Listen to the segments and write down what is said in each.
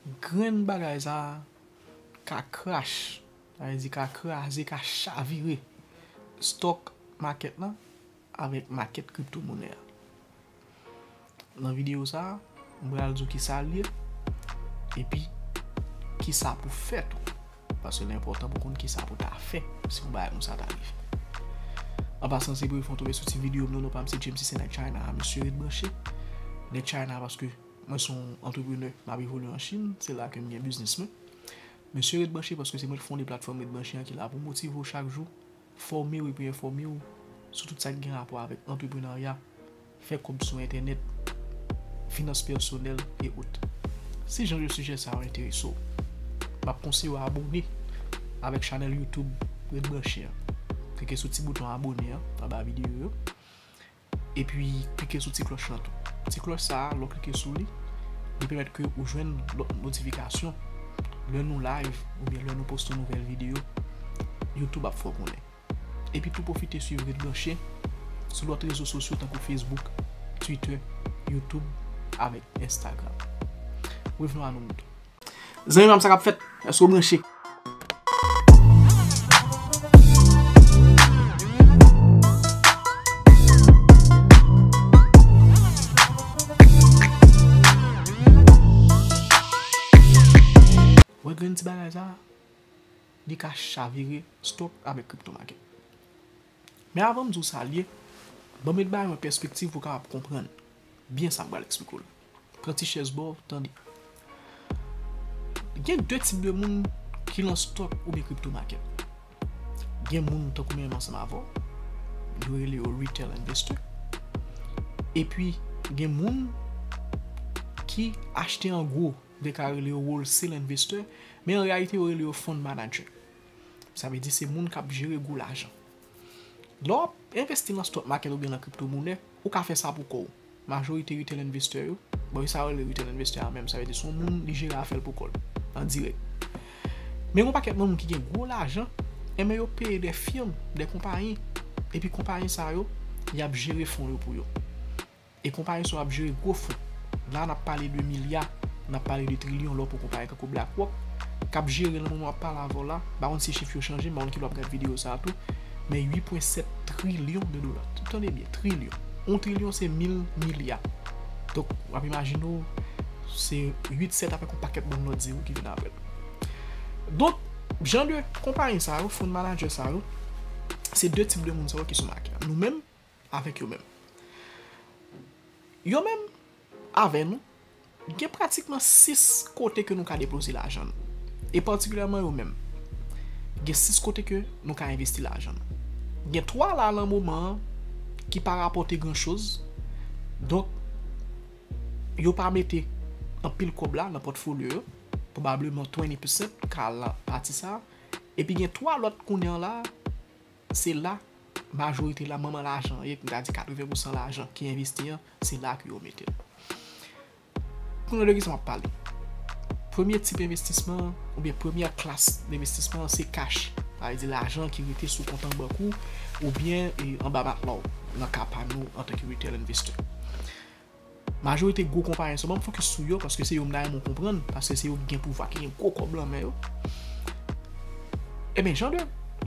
Grenn bagay sa a ka crash, sa vle di ka kraze, ka chavire stock market lan avèk market crypto monè a. Nan video sa a, m pral di w kisa l ye epi kisa pou fè tou. Paske l enpòtan pou konn kisa pou ta fè si yon bagay konsa ta rive. An pasan se premye fwa w tonbe sou ti video m nan, non pa m se James Cissé nèg China a, mesye ret branche. Nèg China paske. Mwen son antreprenè m ap evolye an Chine, se la ke m gen biznis mwen. Mesye ret branche paske se mwen ki fonde platfòm ret branche an ki la pou motive w chak jou, fòme w epi enfòme w sou tout sa ki gen rapò avèk antreprenarya, fè kòb sou entènèt, finans pèsonèl e ot. Si jan de sijè sa yo enterese w, m ap konseye w abone avèk chanèl YouTube ret branche an. Klike sou ti bouton abone an anba videyo yo. Epi klike sou ti klòch lan tou. Ti klòch sa a lè w klike sou li, li pèmèt ke ou jwenn lòt notifikasyon lè nou live oubyen lè nou poste yon nouvèl videyo, YouTube ap fè w konnen. Epi tou pwofite swiv Ret Branche sou lòt rezo sosyo tankou Facebook, Twitter, YouTube avèk Instagram. Revenons à nous moutons. Zanmi pam sa kap fèt? Èske ou branche? Wè grenn ti bagay sa a? Li ka chavire stock avèk crypto market. Men avan m di w sa l ye, banm yon ti bagay nan pèspektiv pou w kapab konprann byen sa m pral esplike w la. Pran ti chèz ba w tande. Gen 2 tip de moun ki lan stock oubyen crypto market. Gen moun tankou menm ansanm avè w, yo rele yo retail investor. Epi gen moun ki achte an gwo, de ka rele yo wholesale investor, men an reyalite yo rele yo fund manager. Sa vle di se moun k ap jere gwo lajan. Lè w ap envesti lan stock market oubyen lan crypto monè, Ou ka fè sa pou kò w. Majorite retail investor yo, bon e sa yo rele retail investor a menm, sa vle di se yon moun li jere afè l pou kò l, an dirèk. Men gen yon pakèt moun ki gen gwo lajan, enben yo peye de firm, de konpayi, epi konpayi sa yo, y ap jere fon yo pou yo. E konpayi sa yo ap jere gwo fon. La n ap pale de milya, n ap pale de trilyon lè w pran konpayi tankou BlackRock, k ap jere nan moman m ap pale avè w la, m pa konn si chif yo chanje, m pa konn ki lè w ap gad videyo sa a tou. men 8.7 trilyon de dola. Tande byen, trilyon. On trilyon se mil milya. Donk, w ap imajine w, se 8 sèt avèk on pakèt bann lòt zewo ki vin apre. Donk, jan de konpayi sa yo, fon manadjè sa yo, se de tip de moun sa yo ki sou make a. Nou menm, avèk yo menm. Yo menm avè nou, gen pratikman 6 kote ke nou ka depoze lajan nou. E patikilyèman yo menm, gen 6 kote ke nou ka envesti lajan nou. Gen 3 la lan moman an ki pa rapòte gran choz, donk yo pa mete anpil kòb la nan pòtfolyo yo, pwobableman 20% ka al lan pati sa a, epi gen 3 lòt kounye an la a, Se la k majorite la manman lajan ye, m ta di 80 pou san lajan ki envesti an, se la ke yo mete l. Konnen de ki sa m ap pale. Premye tip envestisman an, oubyen premyè klas envestisman an se kach. Sa vle di lajan ki rete sou kont an bank ou, oubyen anba matla w, nan ka pa nou antanke retail investor. Majorite gwo konpayi an se pa m fokis sou yo paske se yo m ta renmen w konprann paske se yo ki gen pouvwa ki gen gwo kòb lan men yo Ebyen jan de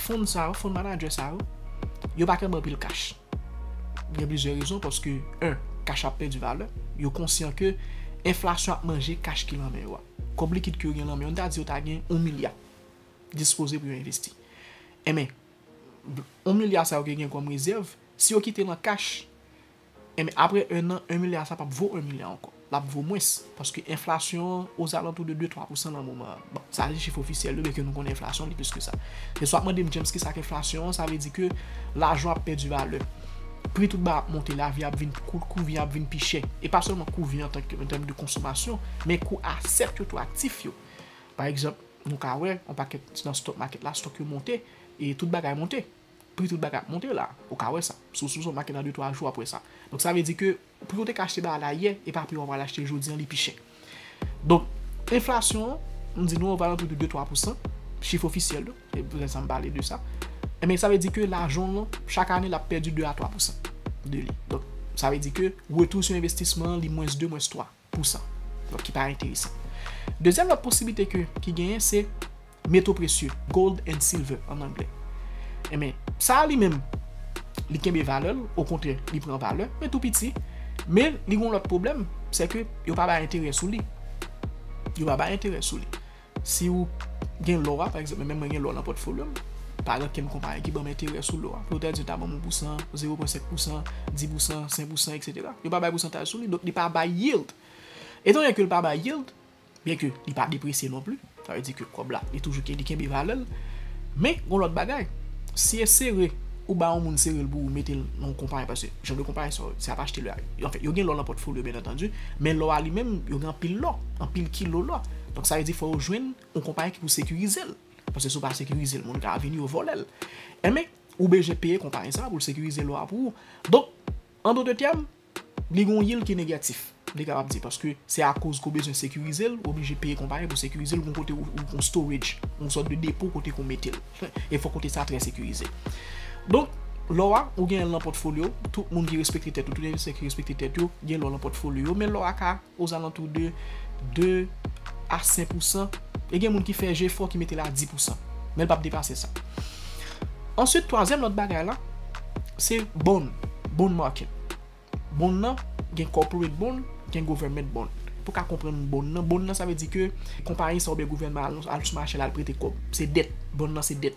fund sa yo fund manager sa yo yo pa tèlman anpil kach gen plizyè rezon paske 1 kach ap pèdi valè yo konsyan ke enflasyon ap manje kach ki lan men yo a kòb likid ke yo gen lan men yo an ta di yo ta gen 1 milya dispoze pou yo envesti enben 1 milya sa yo ke gen kòm rezèv si yo kite l an kach Enben, apre 1 an, 1 milya sa p ap vo 1 milya ankò. L ap vo mwens, paske enflasyon an ozalantou de 2, 3 pousan nan moman an. Bon, sa se chif ofisyèl yo, byenke nou konnen enflasyon li plis ke sa. Men si w ap mande m, James, ki sa k enflasyon an? Sa vle di ke lajan ap pèdi valè. Pri tout bagay ap monte, lavi ap vin pi kout, kou vi ap vin pi chè. E pa sèlman kou vi antanke, an tèm de konsomasyon, men kou asèt yo tou, aktif yo. Pa egzanp, nou ka wè, yon pakèt nan stock market la, stock yo monte, e tout bagay monte. pri tout bagay ap monte la, ou ka wè sa. Sou sou zonmake nan 2 3 jou wap wè sa. Donk sa vle di ke pri ou te ka achte bagay la yè e pa pri wap pral achte jodi an li pi chè. Donk enflasyon an m di nou ozalantou de 2 3 pousan, chif ofisyèl yo, se pou tèt sa m pale de sa. Enben sa vle di ke lajan w lan chak ane lap pèdi 2 a 3 pousan de li. Donk sa vle di ke retou sou envestisman an li mwens 2, mwens 3. pou sa. Donk ki pa enteresan. Dezyèm lòt posiblite ke ki genyen se meto presye, gold and silver an anglè. Enben, sa a li menm li kenbe valè l, okontrè li pran valè, men tou piti, men li gon lòt pwoblèm, sè ke yo pa bay enterè sou li. Yo pa bay enterè sou li. Si ou gen lò a, pa egzanp menm mwen gen lò nan pòtfolyo m, pa gen okenn konpayi ki ban m enterè sou lò a. Pou yo ta di yo ta ban m 1 pousan, zewo pwen senk pousan, di pousan, sen pousan eksetera. Yo pa bay pousantaj sou li, donk li pa bay yield. Etan done ke li pa bay yield, byen ke li pa depresye non pli, sa vle di ke kòb la li toujou li kenbe valè l. Men gon lòt bagay, si e sere ou ba yon moun sere l pou ou mete l nan yon konpayi paske jan de konpayi sa yo, se ap achte lò a. Anfen, yo gen lò nan pòtfolyo byenantandi, men lò a li menm, yo gen anpil lò, anpil kilo lò. Donk sa vle di fò yo jwenn yon konpayi ki pou sekirize l. Paske si w pa sekirize l, moun ka vini yo vòlè l. Enben, ou bejwen peye konpayi sa a pou l sekirize lò a pou ou. Donk, an dote tèm, li gen yon yield ki negatif. Li kapab di paske se akoz ke w bezwen sekirize l, ou oblije peye konpayi pou sekirize l, gen yon kote ou gen yon storage, yon sòt de depo kote ke w mete l. E fòk kote sa a trè sekirize. Donk, lò a, ou genyen l nan pòtfolyo, tout moun ki respekte tèt yo, tout envestisè ki respekte tèt yo, gen lò nan pòtfolyo yo, men lò a ka. ozalantou de 2 a 5 pousan, e gen moun ki fè jefò ki mete l a 10 pousan, men l p ap depase sa. Answit, twazyèm lòt bagay la, se bond, bond market. Bond lan, gen corporate bond, gen government bond. Pou w ka konprann bond lan, bond lan sa vle di ke konpayi sa oubyen gouvènman an al sou mache l al prete kòb. Se dèt, bond lan se dèt.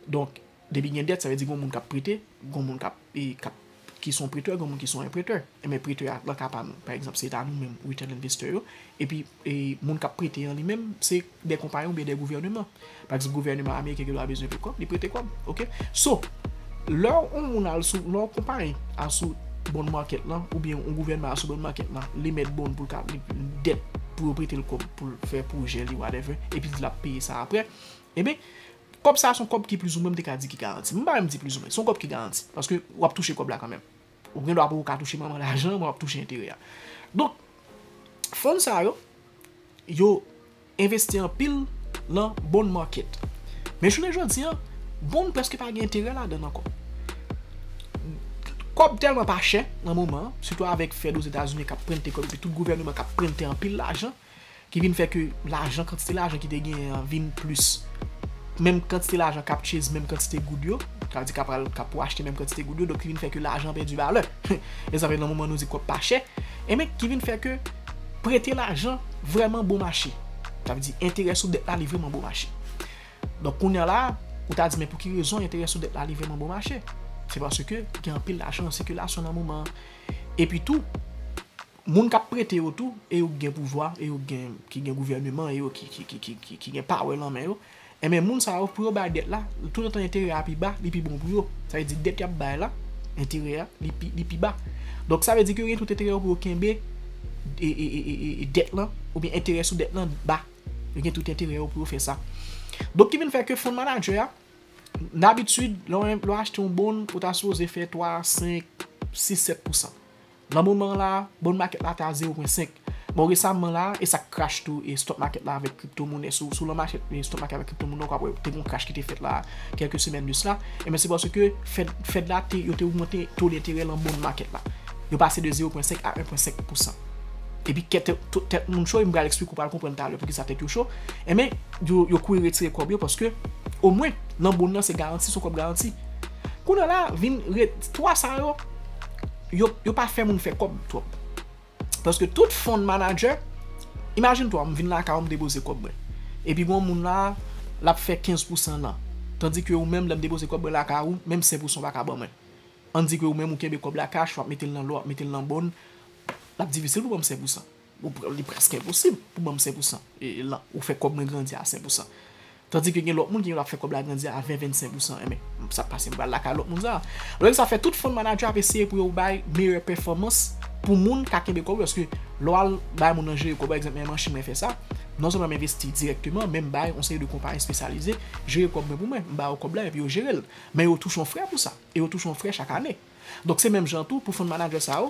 Donk, Depi gen dèt, sa vle di gon moun k ap prete, gon moun k ap, k ap, ki son pretè, gon moun ki son enpretè. Enben pretè a lan ka pa m, pa egzanp se ta nou menm Return Investor yo, epi moun k ap prete an li menm se de konpayon oubyen de gouvèneman. Pa egzanp gouvèneman ameriken gen dwa bezwen pou kòb, li prete kòb. Ok. So, lè yon moun al sou, lè yon konpayi al sou bond market lan oubyen yon gouvènman al sou bond market lan, li emèt bond pou l ka, dèt pou yo prete l kòb pou l fè pwojè li whatever, epi l di l ap peye sa aprè, enben Kòb sa a son kòb ki plizoumwen m te ka di ki garanti. M pa menm di plizoumwen, son kòb ki garanti. Paske w ap touche kòb la kanmenm. Ou gen dwa pou ou ka touche manman lajan men w ap touche enterè a. Donk, fon sa yo, yo envesti anpil lan bond market. Men jounen jodi an, bond prèske pa gen enterè ladan l ankò. Kòb tèlman pa chè nan moman an, sitou avèk Fed Ozetazini k ap prente kòb epi tout gouvèneman k ap prente anpil lajan. ki vin fè ke lajan kantite lajan ki te genyen an vin plis menm kantite lajan kap chase menm kantite goud yo sa vle di kap pral kap pou achte menm kantite goud yo donk ki vin fè ke lajan pèdi valè mezanmi nan moman nou di kòb pa chè enben ki vin fè ke prete lajan vrèman bon mache sa vle di enterè sou dèt la li vrèman bon mache donk kounya la ou ta di men pou ki rezon enterè sou dèt la li vrèman bon mache se paske gen anpil lajan an sikilasyon nan moman an epi tou. Moun kap prete yo tou e yo k gen pouvwa e yo k gen ki gen gouvèneman e yo ki ki gen power lan men yo enben moun sa yo pou yo bay dèt la toutotan enterè a pi ba li pi bon pou yo sa vle di dèt yap bay la enterè a li pi li pi ba donk sa vle di ke yo gen tout enterè pou yo kenbe e dèt lan oubyen enterè sou dèt lan ba yo gen tout enterè yo pou yo fè sa donk ki vin fè ke fon manager a dabitid lè w achte yon bon ou ta sipoze fè 3 a 5 6 7 pousan Nan moman la, bond market la te a 0 pwen 5. Bon resamman la, e sa k crash tou e stock market la avèk crypto money. Si w lan mache stock market avèk crypto money ou ka wè te gon crash ki te fèt la kèlke semèn de sla. Ebyen se paske fed fed la te yo te ogmante to denterè lan bond market la. Yo pase de 0 pwen 5 a 1 pwen 5 pousan. Epi kè tè tout tèt moun cho e m pral esplike ou pral konprann talè poukisa tèt yo cho. Ebyen yo yo kouri retire kòb yo paske o mwen lan bond lan se garanti son kòb garanti. Kounye la vin re 3 sa yo. yo pa fè moun fè kòb twòp. Paske tout fon manager, imajine toi m vin lakay ou m depoze kòb mwen. Epi gon moun la, l ap fè 15 pou 100 nan. Tandi ke ou menm lè m depoze kòb mwen lakay ou, menm 5 pou 100 ou pa ka ban mwen. Ann di ke ou menm ou kenbe kòb la cash, w ap mete l nan lò, w ap mete l nan bòn, l ap difisil pou ban m 5 pou 100. Li prèske enposib pou banm 5 pou 100 lan ou fè kòb mwen grandi a 5 pou 100 tandi ke gen lòt moun ki menm ap fè kòb la grandi a 20, 25 pou 100 enben sak pase m pral lakay lòt moun sa lè sa fè tout fon manadjè ap eseye pou yo bay meyè pèfòmans pou moun ka kenbe kòb yo paske lè w al bay moun nan jere kòb yo ekzanp mwen menm an chinn mwen fè sa non sèlman m envesti dirèkteman men m bay yon seri de konpayi espesyalize jere kòb mwen pou mwen m ba yo kòb la epi yo jere l men yo touche yon frè pou sa e yo touche yon frè chak ane donk se menm jan tou pou fon manadjè sa yo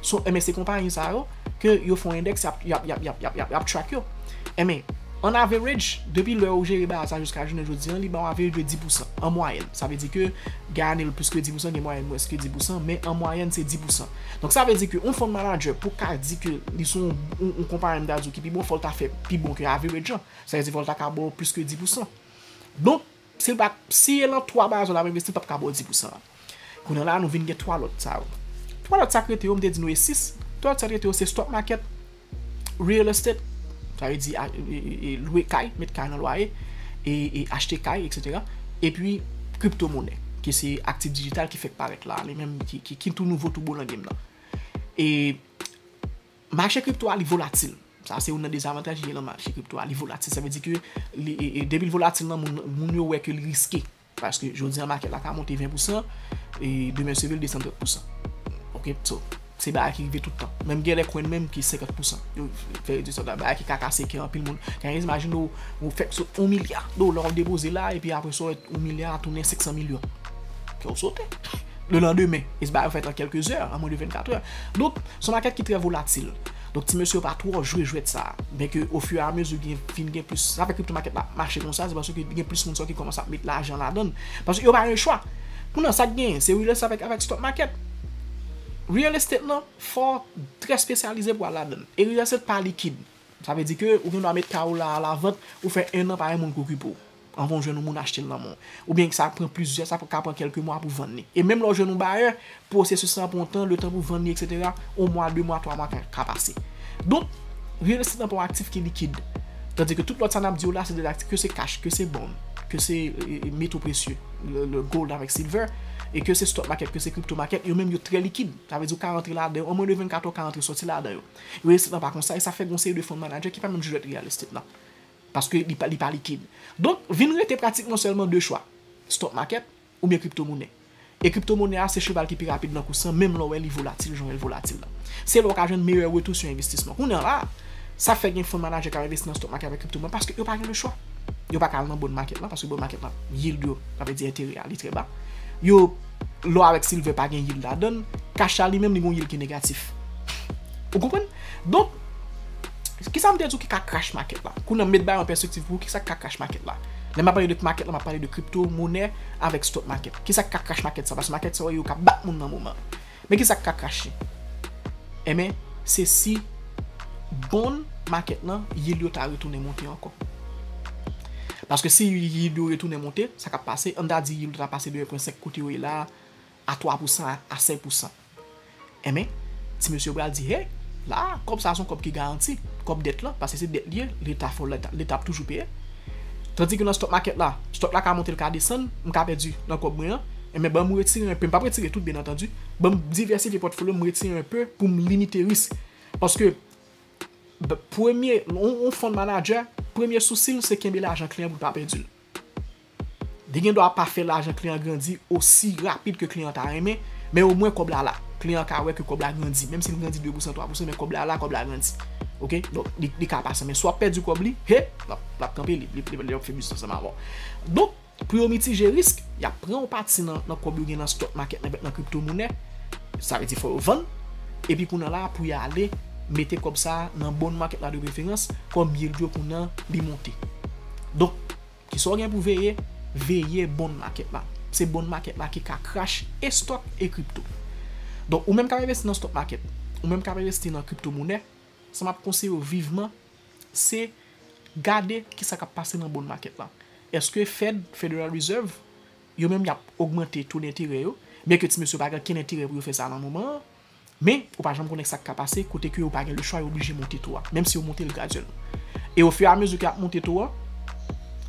So enben se konpayi sa yo ke yo fon endèks yap yap yap yap yap yap yap track yo. Enben an average depi lè ou jere baz la jiska jounen jodi an li ba w average de 10 pou san an mwayèn. Sa vle di ke gen ane l plis ke 10 pou san gen mwayèn mwens ke 10 pou san men an mwayèn se 10 pou san. Donk sa vle di ke yon fon manager pou ka di ke li se yon yon konpayi m ta di w ki pi bon fò l ta fè pi bon ke average an. Sa vle di fò l ta ka ba w plis ke 10 pou san. Donk. Se pa, si e lan 3 bazo lap envesti pap ka bo di pou sa. Kounya la nou vin gen 3 lot sa yo. 3 lot sa k rete yo m te di nou e 6, 3 lot sa k rete yo se stock market, real estate, sa vle di lwe kay, met kay nan lwaye, e achte kay etc. Epi crypto money ki se aktif dijital ki fèk parèt la, li menm ki tou nouvo tou bon nan game nan. E. Mache kripto a li volatil. Sa se youn nan dezavantaj li gen nan mache kripto a. Li volatil. Sa vle di ke depi li volatil nan moun, moun yo wè ke li riske. Paske jodi an makèt la ka monte 20 pousan e demen seve l desann 30 pousan. Ok. So, se bagay ki rive tout tan. Menm gen lè kwenn menm ki 50 pousan. Yo fè redi sòt la. Bagay ki ka kase kè anpil moun. Kan e imajine ou, ou fèk sot 1 milya dola ou depoze la epi apre sa ou wè 1 milya a tounen 500 milyon. Kè ou sote. le landemen, e se bagay yo fèt an kèlke zè, an mwen de 24 è. Donk, se yon makèt ki trè volatil. Donk, ti mesye yo pa twò jwe jwèt sa a. Byen ke o fiu e a mezi gen, vin gen plis, sa fè kripto makèt la mache konsa, se paske gen plis moun sa yo ki kòmanse ap met lajan ladan l. Paske yo pa gen chwa. Kounye a, sa k genyen, se real estate avèk stock market. Real estate lan, fò w trè spesyalize pou w al ladan l. E real estate pa likid. Sa vle di ke ou gen dwa met kay ou la a lavant, ou fè ennan pa gen moun k okipe w. anvan w jwenn yon moun achte l nan men w. Oubyen sa pran plizyè, sa ka pran kèlke mwa pou w vann li. E menm lè w jwenn yon bayè, pwosesis lan pran tan, letan pou w vann li eksetera, yon mwa, de mwa, twa mwa ka pase. Donk, riyèl estit nan pa yon aktif ki likid. Tandi ke tout lòt sa n ap di yo la se de aktif, ke se kach, ke se bond, ke se meto presye, le gold avèk silver, e ke se stock market, ke se crypto market, yo menm yo trè likid. Sa vle di ou ka rantre ladan yo, an mwen de 24 è w ka rantre sòti ladan yo. Riyèl estit lan pa konsa e sa fè gen yon seri de fon manadjè ki pa menm jwèt riyèl estit lan. Paske li pa likid. Donk, vin rete pratikman sèlman 2 chwa, Stock Market oubyen Crypto Money. E Crypto Money a se cheval ki pi rapid nan kous lan menm lè w wè li volatil jan w wè l volatil la. Se la w ka jwenn meyè retou sou envestisman w. Kounya la, sa fè gen fon manaje k ap envesti nan Stock Market avèk Crypto Money paske yo pa gen lechwa. Yo pa ka al nan Bond Market lan paske Bond Market lan yield yo, sa vle di enterè a, li trè ba. Yo, lò avèk silvè pa gen yield ladan l. Cash la li menm li gen yon yield ki negatif. Ou konprann? Donk. Kisa m te di w ki ka crash market la? Kounye a m met bagay yo an pèspektiv pou ou, kisa k ka crash market la? Lè m ap pale de market la, m ap pale de crypto monè avèk stock market. Kisa k ka crash market sa? Paske market sa yo ka bat moun nan moman. Men kisa k ka crash li? Enben, se si bond market lan, yield yo ta retounen monte ankò. Paske si yield yo retounen monte, sa k ap pase, an ta di yield yo ta pase de 1.5 kote yo ye la a, A 3 pou san, a 5 pou san. Enben, ti mesye yo pral di, hey, la a, kòb sa a se yon kòb ki garanti, kòb dèt lan, paske se dèt li ye, Leta fè, Leta ap toujou peye. Tandike nan stock market la, stock la ka monte, l ka desann, m ka pèdi nan kòb mwen an, enben ban m retire enpe, m p ap retire tout byen antandu, ban m divèsifye pòtfolyo m, m retire enpe pou m limite risk. Paske, premye, yon fon manager, premye sousi l se kenbe lajan kliyan pou l pa pèdi l. Li gen dwa pa fè lajan kliyan an grandi osi rapid ke kliyan an ta renmen, men omwen kòb la la. Kliyan an ka wè ke kòb la grandi, menm si li grandi 2 pousan, 3 pousan, men kòb la la, kòb la grandi. Ok, donk li ka pa sa, men si w ap pèdi kòb li, he, l ap kanpe, li ap fè biznis ansanm avè w. Donk, pou yo mitije risk, y ap pran yon pati nan kòb yo gen nan stock market nan, nan kripto monè, sa vle di fò yo vann, epi kounye la a pou y ale mete kòb sa a nan bond market la de preferans, kòm yield yo kounye an li monte. Donk, ki sa w gen pou veye? Veye bond market la. Se bond market la ki ka crash e stock e crypto. Donk, ou menm k ap envesti nan stock market, ou menm k ap envesti nan crypto monè, sa m ap konseye w viveman, se gade ki sa k ap pase nan bond market la. Eske Fed, Federal Reserve, yo menm y ap ogmante to denterè yo, byenke ti mesye yo pa gen okenn enterè pou yo fè sa nan moman an, Men, ou pa janm konnen sa k ka pase, kote ke yo pa gen le chwa, yo oblije monte to a, menm si yo monte l gradyèlman. E ofiramezi ke y ap monte to a,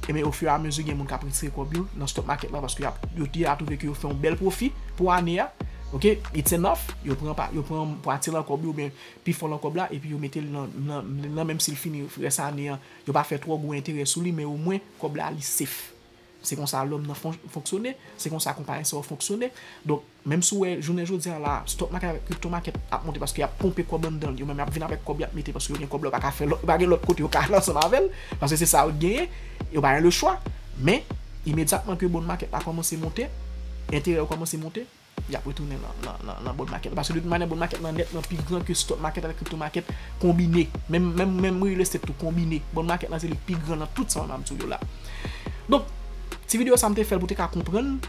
enben ofiramezi gen moun k ap retire kòb yo nan stock market la, paske y ap, yo deja twouve ke yo fè yon bèl pwofi pou ane a, ok, it's enough, yo pran pa, yo pran pwati lan kòb yo oubyen pi fò lan kòb la, epi yo mete l nan, nan, nan menm si l fini rès ane an, yo pa fè twò gwo enterè sou li, men omwen kòb la li safe. Se konsa lòm nan fonksyone, se konsa konpayi sa yo fonksyone. Donk, menm si w wè jounen jodi a la, stock market avèk crypto market ap monte paske y ap ponpe kòb anndan l, yo menm y ap vin avèk kòb y ap mete paske yo gen kòb la, yo pa ka fè lòt, yo pa gen lòt kote yo ka al ansanm avè l, paske se sa yo genyen, yo pa gen lechwa. Men, imedyatman ke bond market la kòmanse monte, enterè yo kòmanse monte. Yap retounen nan bòn makèt la. Paske de tout manyè bòn makèt lan nètman pi gran ke stock market avèk crypto market konbine. Menm real estate tou konbine. Bòn makèt lan se li ki pi gran nan tout sa mwen ap di w yo la. Donk, ti videyo sa m te fè l pou te ka konprann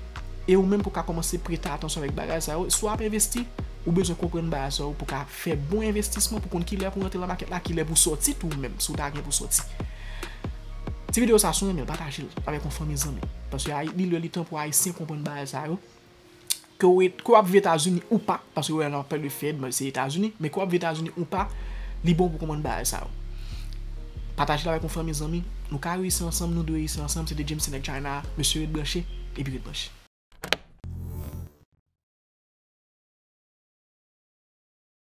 e ou menm pou ka kòmanse prete atansyon avèk bagay sa yo. Si w ap envesti, ou bezwen konprann bagay sa yo pou ka fè bon envestisman pou konn ki lè pou rantre nan makèt la, ki lè pou sòti tou menm si w ta gen pou sòti. Ti videyo sa si w renmen l pataje l avèk yon fanmi zanmi. Paske li lè li tan pou Ayisyen konprann bagay sa yo. ke w ke w ap viv etazini ou pa paske wè nan pale de fed se etazini men ke w ap viv etazini ou pa li bon pou konprann bagay sa yo pataje l avèk yon fanmi zanmi nou ka reyisi ansanm nou dwe reyisi ansanm se te James nèg china a mesye ret branche epi ret branche.